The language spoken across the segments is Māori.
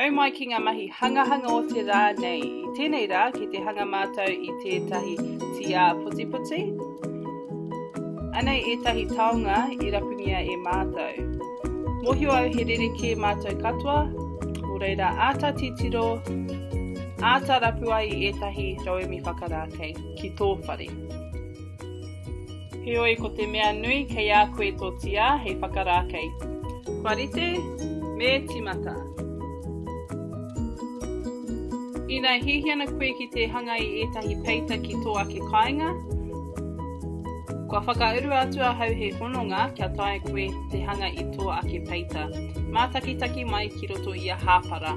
Nau mai ki ngā mahi hangahanga o te rā nei. I tēnei rā, ki te hanga mātou i tētahi tīā putiputi. Anei ētahi taonga i rapungia e mātou. Mohio au he rerekē mātou katoa, o reira āta titiro, āta rapu ai i ētahi rauemi whakarākei ki tō whare. Heoi ko te mea nui kei a koe tō tīā hei whakarākei. Kua rite, me tīmata. Ina hihi ana koe ki te hanga i ētahi peita ki tō ake kāinga, kua whakaurua atu ahau he hononga kia taea koe te hanga i tō ake peita, mātakitaki mai ki roto i a Hāpara.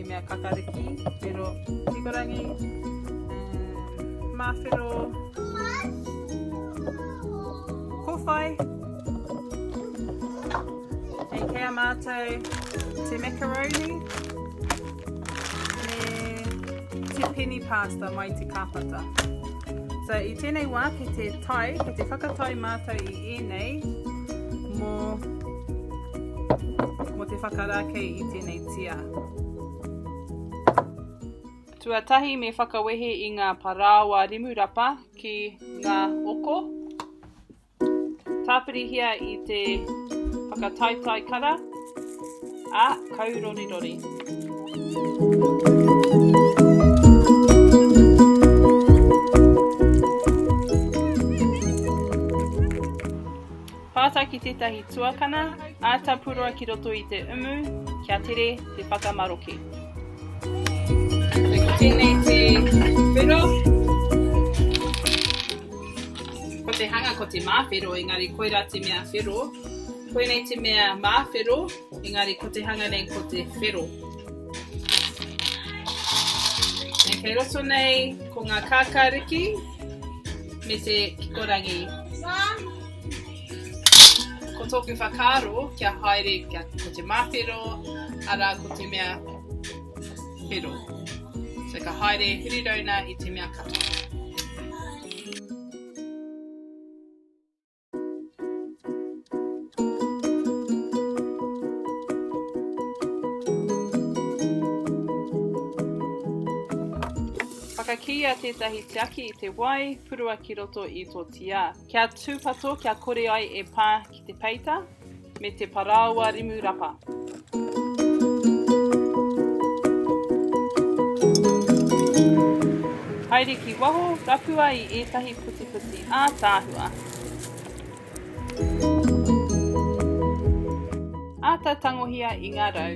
He mea kakariki, whero, hikurangi, mawhero, kowhai. Hei kei a mātou te macaroni me te penny pasta mai te kāpata. So i tēnei wā ki te tai, ki te whakatai mātou i ēnei mō, mō te whakarākei i tēnei whakawehetitia. Tuatahi me whakawehe i ngā parāoa rimurapa ki ngā oko. Tāpirihia i te whakataetae kara, a kaurorirori. Pātai ki tētahi tuakana āta puroa ki roto i te umu kia tere te whakamaroke. Ko tēnei te whero. Ko te hanga ko te māwhero, engari koirā te mea whero. Koinei te mea māwhero, engari ko te hanga nei ko te whero. E kei roto nei ko ngā kākāriki me te kikorangi. Mā! Ko tōku whakaaro, kia haere, kia, ko te māwhero, arā, ko te mea whero. So, ka haere Hurirauna i te mea katoa. Whakakīia tētahi tiaki i te wai, purua ki roto i tō tiā. Kia tūpato kia kore ai e pā ki te peita me te parāoa rimu rapa. Haere ki waho, rapua i ētahi putiputi ātaahua. Āta tangohia i ngā rau.